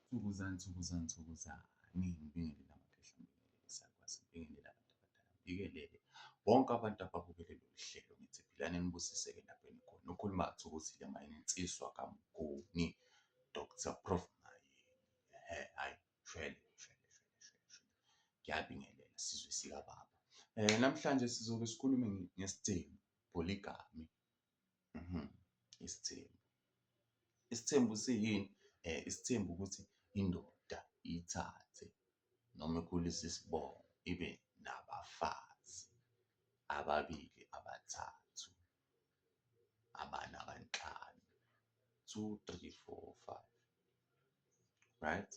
Thukuzani, thukuzani, thukuzani. Ngibingelele amaphehla sakwazi ngibingelele abantu abadala. Ngibingelele bonke abantu ababukele lolu hlelo ngithi philani nibusiseke lapho enikhona. Ukhuluma kaThukuthile mayini insiswa kaMnguni Dr. Prof Mayini. Ehhe hayi shwele shwele shwele shwele shwele. Ngiyabingelela sizwe sikababa. Eh namhlanje sizobe sikhulume ngesidingo polygamy Mhm. Isithembu. Isithembu siyini? Eh, isithembu ukuthi indoda ithathe noma ikhulise isibongo ibe nabafazi ababili, abathathu, abane, abanhlanu. Two, three, four, five. Right?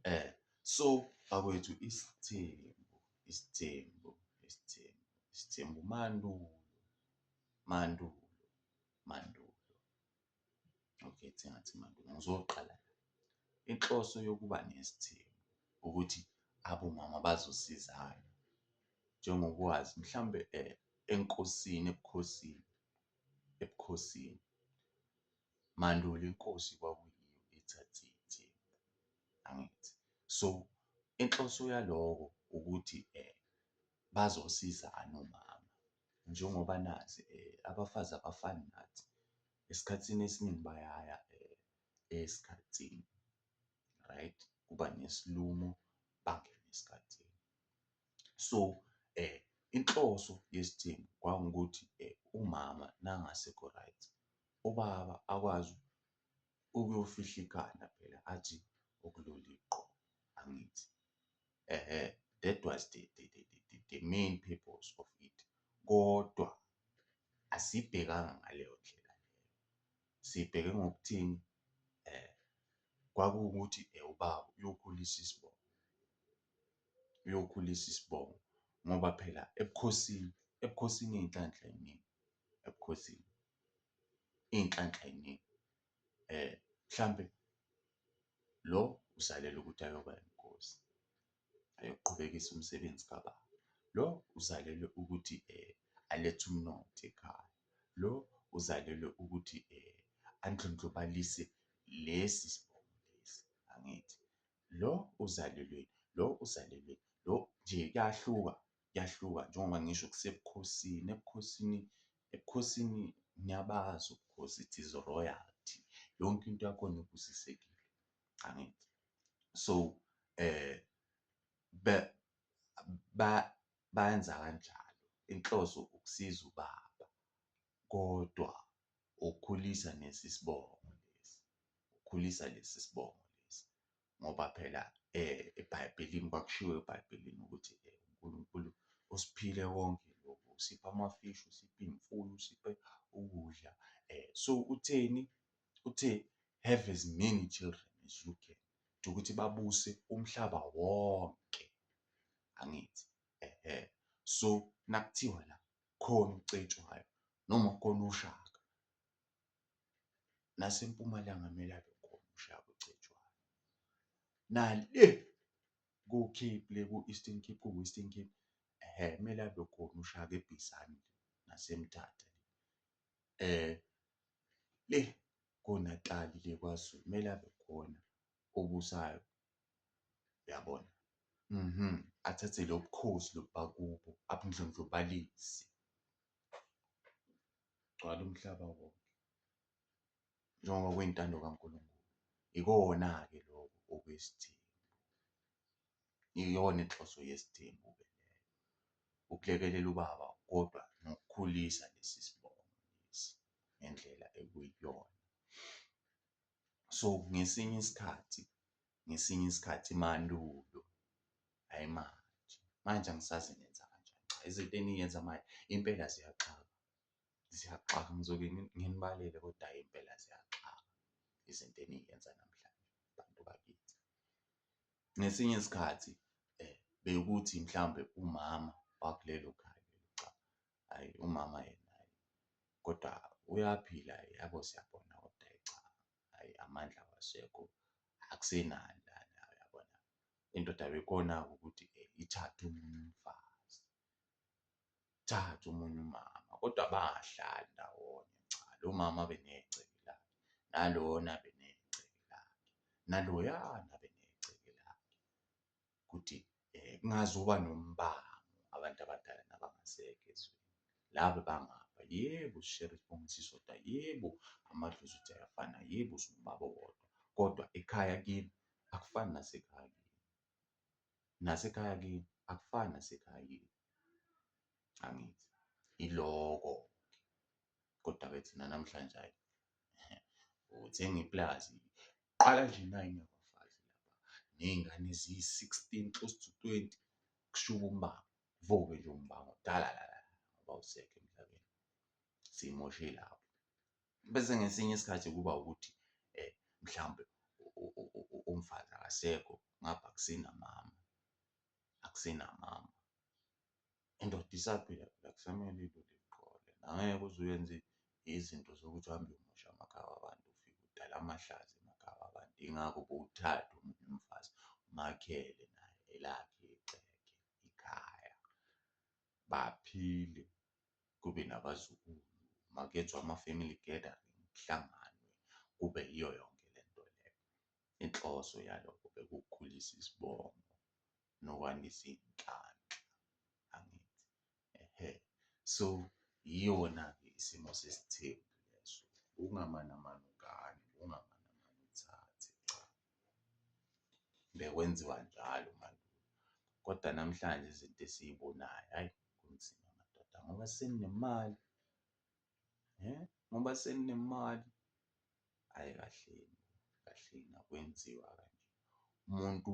Eh, so bakwethu isithembu, isithembu, isithembu, isithembu mandulo. mandulo mandulo okay sengathi mandulo ngizoqala inhloso yokuba nesithembu ukuthi abomama bazosizana njengokwazi mhlambe eh, enkosini ebukhosini ebukhosini mandulo inkosi kwakuyiyo ithathe ithembu angithi so inhloso yaloko ukuthi eh bazosizana umama njengoba nazi abafazi abafani nathi, esikhathini esiningi bayaya esikhathini, right? Kuba nesilumo bangene esikhathini. So, inhloso yesithembu kwakungukuthi umama nangasekho right, ubaba akwazi ukuyofihla ikhanda phela athi ukulele uqobo, angithi? eh that was the the, the, the, the main purpose of it kodwa asibhekanga ngaleyo ndlela leyo sibheke ngokuthini eh kwakuwukuthi eh, ubaba uyokhulisa isibongo uyokhulisa isibongo ngoba phela ebukhosini ebukhosini iy'nhlanhla ey'ningi ebukhosini iy'nhlanhla ey'ningi um mhlampe lo uzalela ukuthi ayoba inkosi, ayoqhubekisa umsebenzi kababa. Lo uzalelwe ukuthi um alethe umnotho ekhaya. Lo uzalelwe ukuthi um andlondlobalise lesi sibongo lesi, angithi? Lo uzalelweni, lo uzalelweni, lo nje kuyahluka. kuyahluka njengoba ngisho kusebukhosini. Ebukhosini, ebukhosini ngiyabazi ubukhosi, it is royalty. Yonke into yakhona ibusisekile, angithi? So, eh, ba, ba, bayenza kanjalo. Inhloso ukusiza ubaba, kodwa ukukhulisa nesi sibongo lesi, ukukhulisa lesi sibongo. ngoba phela ebhayibhelini kwakushiwo ebhayibhelini ukuthi uNkulunkulu usiphile konke lokhu usipha amafishi usipha iy'mfuyo usiphe ukudla um so utheni uthe have as many children as you can ukuthi babuse umhlaba wonke angithi ehe so nakuthiwa la khona ucetshwayo noma khona ushaka nasempumalanga kumele abe khona ushaya kucetshwayo nale ku-cape le ku-eastern cape ku-western cape ehe kumele abe khona ushaya kebhisani nasemthatha um le konatali le kwazulu kumele abe khona obusayo uyabona mhm athathe lo bukhosi lobubakubo abundlondlobalise Gcwala umhlaba wonke njengoba kuyintando kaNkulunkulu. Ikona-ke lokho okwesithembu. Iyona inhloso yesithembu ke leyo. Ukulekelela ubaba kodwa nokukhulisa lesi sibongo lesi ngendlela ekuyiyona. So ngesinye isikhathi ngesinye isikhathi mandulo hhayi manje, manje angisazi ngenza kanjani. Cha izinto engiyenza manje impela ziyaxaka, ziyaxaka ngizoke nginibalele kodwa hhayi impela ziyaxaka izinto engiyenza namhlanje bantu bakithi. Ngesinye isikhathi bekuthi mhlawumbe umama wakulelo khaya lelo cha Ayi umama yena ayi kodwa uyaphila yabo siyabona kodwa ayi cha ayi amandla wasekho akusenani lana uyabona indoda bekhona ukuthi eh, ithathe umunye umfazi thatha umunye umama kodwa bangahlali ndawonye cha lo mama benegceke lakhe nalona benegceke lakhe naloyana benegceke lakhe ukuthi eh, kungazuba nombango abantu abadala nabangasekho ezweni laba bangapha yebo sishere sibongisiso da yebo amadlozi uthi ayafana yebo singubaba wodwa kodwa ekhaya kimi akufani nasekhaya kimi nasekhaya kimi akufani nasekhaya kimi angithi iloko kodwa ke thina namhlanje hayi uthenga iplazi qala nje nayi nabafazi ney'ngane eziyi-sixteen close to twenty kushuba umbaba voke nje umbango dala la ngoba usekho emhlabeni simoshe lapho bese ngesinye isikhathi kuba ukuthi um mhlawumbe umfazi akasekho ngapha akusenamama akusenamama indoda isaphila phela kusamele ilule iqole. Angeke uze uyenze izinto zokuthi uhambe uyomosha amakhaya wabantu ufike udale amahlazo emakhaya wabantu. Yingakho bowuthathe omunye umfazi umakhele naye elakhe igceke ikhaya baphile kube nabazukulu makuyenzwa ama-family gathering kuhlanganwe kube yiyo yonke le nto le. Inhloso yalokho bekuwukukhulisa isibongo nokwandisa iy'nhlanhla angithi ehhe so yiyona-ke isimo sesithembu leso ungamanamani ugane ungamanamani uthathe cha bekwenziwa njalo mandulo kodwa namhlanje izinto esiyibonayo hhayi kunzima madoda ngoba sekunemali. eh ngoba seninemali ayi kahleni kahleni akwenziwa kanje umuntu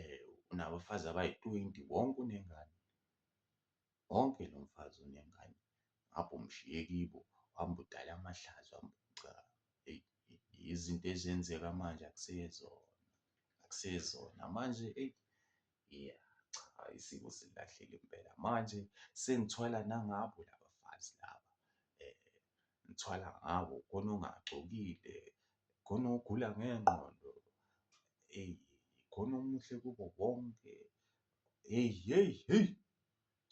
eh unabafazi abayi-20 wonke unengane wonke lo mfazi unengane ngapha umshiye kibo hamba udala amahlazo hamba cha izinto ezenzeka manje akusezona akusezona manje eyi Yeah, cha isiko silahlile impela. Manje sengithwala nangabo laba fazi laba. Eh, ngithwala ngabo khona ongagcokile, khona ogula ngengqondo. Eyi, khona omuhle kubo bonke. Heyi, heyi, heyi.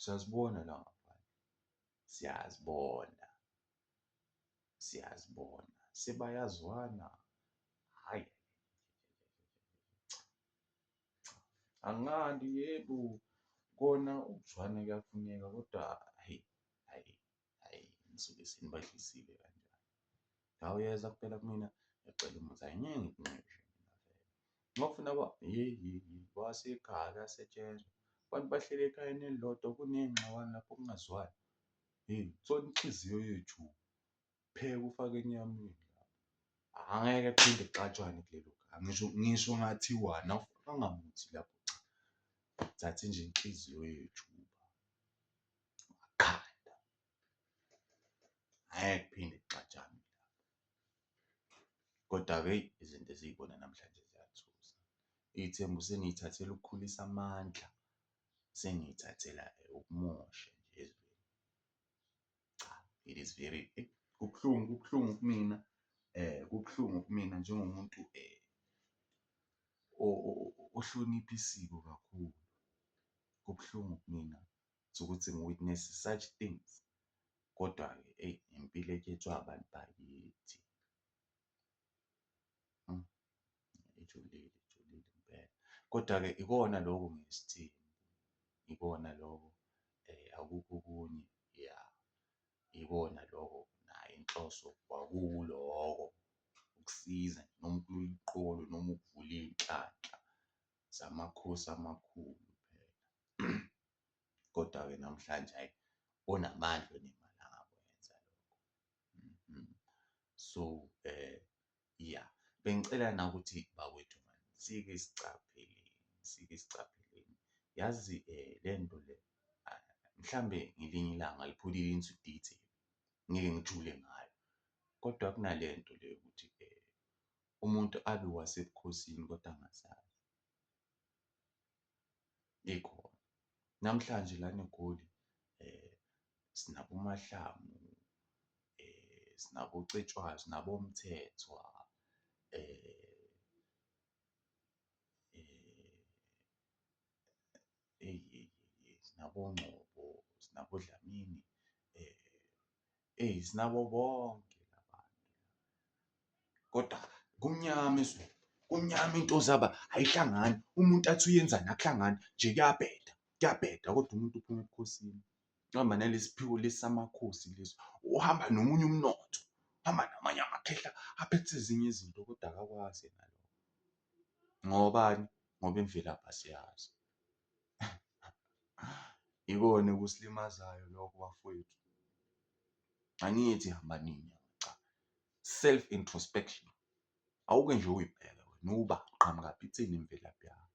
Siyazibona la ngaphandle. Siyazibona. Siyazibona. Sebayazwana. Hhayi. Angilandi yebo kona ukuzwana kuyafuneka kodwa hhayi, hhayi, hhayi ngisuke senibahlisile kanjalo. La uyeza kuphela kumina ngiyacela umuzi, hhayi ngeke ngikunxeshe mina vele. Uma ufuna kwa hheyi, hheyi, hheyi kwasekhaya kuyasetshenzwa, abantu bahleli ekhayeni elilodwa kuney'ngxabano lapho kungazwani. Hheyi, thola inhliziyo yethu. pheka ufake enyameni angeke kuphinde kuxatshwane kulelo gama ngisho ngisho ngathiwa nawufakanga muthi lapho cha thatha nje inhliziyo yethu wakhanda angeke kuphinde kuxatshwane kodwa-ke izinto eziyibona namhlanje ziyathusa iy'thembu seniyithathela ukukhulisa amandla sengiyithathela ukumosha nje ezweni. cha it is very eh, kubuhlungu kubuhlungu kumina eh kubuhlungu kumina njengomuntu eh ohlonipha isiko kakhulu kubuhlungu kumina ukuthi ngi-witness such things kodwa-ke eyi impilo ekhethwa abantu bakithi. Hmm. Ijulile, ijulile impela. Kodwa-ke ikona lokhu ngesithini, ikona lokho eh, akukho okunye ya ikona lokho nayo inhloso kwakuwuloko ukusiza noma ukululiqolo noma ukuvula iy'nhlanhla zamakhosi amakhulu phela. Kodwa-ke namhlanje hhayi onamandla onemali angakwenza lokho. Mhm. So eh ya bengicela na ukuthi bakwethu mani sike sicapheleni sike sicapheleni yazi eh lento le ah, mhlambe ngelinye ilanga liphulile into detail ngeke ngijule ngayo kodwa kunalento le ukuthi eh umuntu abe wasebukhosini kodwa angasazi ikhona. Namhlanje lana eGoli sinabo uMahlangu, sinabo uCetshwayo, sinabo oMthethwa eyi sinabo oNgcobo, sinabo oDlamini Ey sinabo bonke labantu. Kodwa kumnyama ezweni. Kumnyama into zaba ayihlangani. Umuntu athi uyenzani akuhlangani nje kuyabheda. Kuyabheda kodwa umuntu uphuma ebukhosini. Uhamba nalesiphiwo lesamakhosi leso. Uhamba nomunye umnotho. Uhamba namanye amakhehla aphethe ezinye izinto kodwa akakwazi yena lokho. Ngobani? Ngoba imvelaphi asiyazi. Ikona ekusilimazayo lokho bafowethu. Angithi hamba nini cha. Self introspection. Awuke nje uyibheke wena uba qhamuka phithini imvelaphi yakho.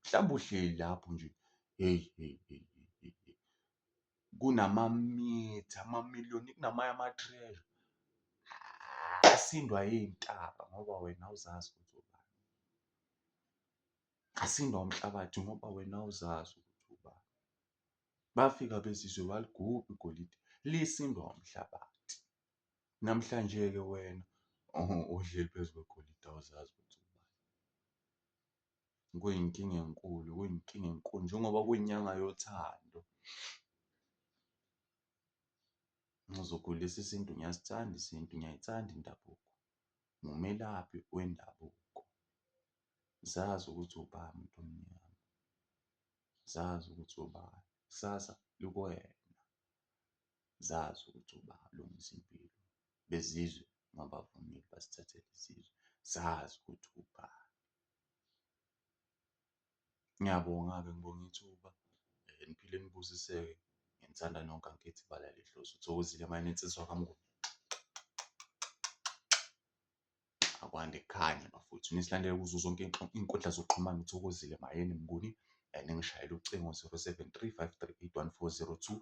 Mhlawumbe uhleli lapho nje hey hey hey kunamamitha amamiliyoni kunamanye ama-treasure asindwa yintaba ngoba wena awuzazi ukuthi ubani. Ngasindwa umhlabathi ngoba wena awuzazi ukuthi ubani. Bafika abezizwe baligubha igolide, lisindwa umhlabathi. Namhlanje-ke wena ohleli phezu kwegolide awuzazi ukuthi ubani. Kuyinkinga enkulu, kuyinkinga enkulu njengoba kuyinyanga yothando. Ngizokhulisa isintu, ngiyasithanda isintu, ngiyayithanda indabuko. Ngumelaphi wendabuko. Zazi ukuthi ubani muntu omnyama. Zazi ukuthi ubani, ikusasa likuwena. Zazi ukuthi ubani, lungisa impilo. Bezizwe mabavumile basithathele isizwe, zazi ukuthi ubani. Ngiyabonga-ke ngibonga ithuba, niphile nibusiseke. Nginithanda nonke angikhethi ibala lehloso. Thokozile mayinensizwa kaMnguni. akwande khanye bafowethu nisilandele kuzo zonke iy'nkundla zokuxhumana uthokozile mayeni mnguni um ningishayela ucingo 073 538 um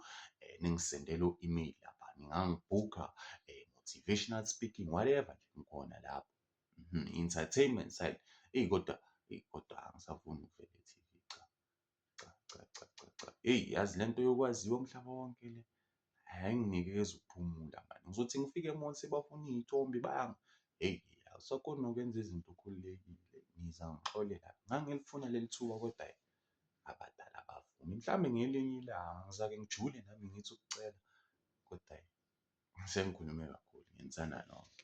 ningisendele u-email lapha ningangibhukha um eh, motivational speaking whatever nje ngikhona lapho mhm, entertainment side eyi kodwa eyi kodwa angisafuni ukuvela e-tv cha cha cha cha cha cha eyi yazi le nto yokwaziwa umhlaba wonke le ayinginikezi ukuphumula mani ngizothi ngifike emall sebafuna iy'thombe banga eyi awusakhoni nokwenza izinto ukhululekile ngiza ngixolela ngangilifuna leli thuba kodwa abadala abavumi mhlawumbe ngelinye ilanga ngizake ngijule nami ngithi ukucela kodwa sengikhulume kakhulu ngenzana nonke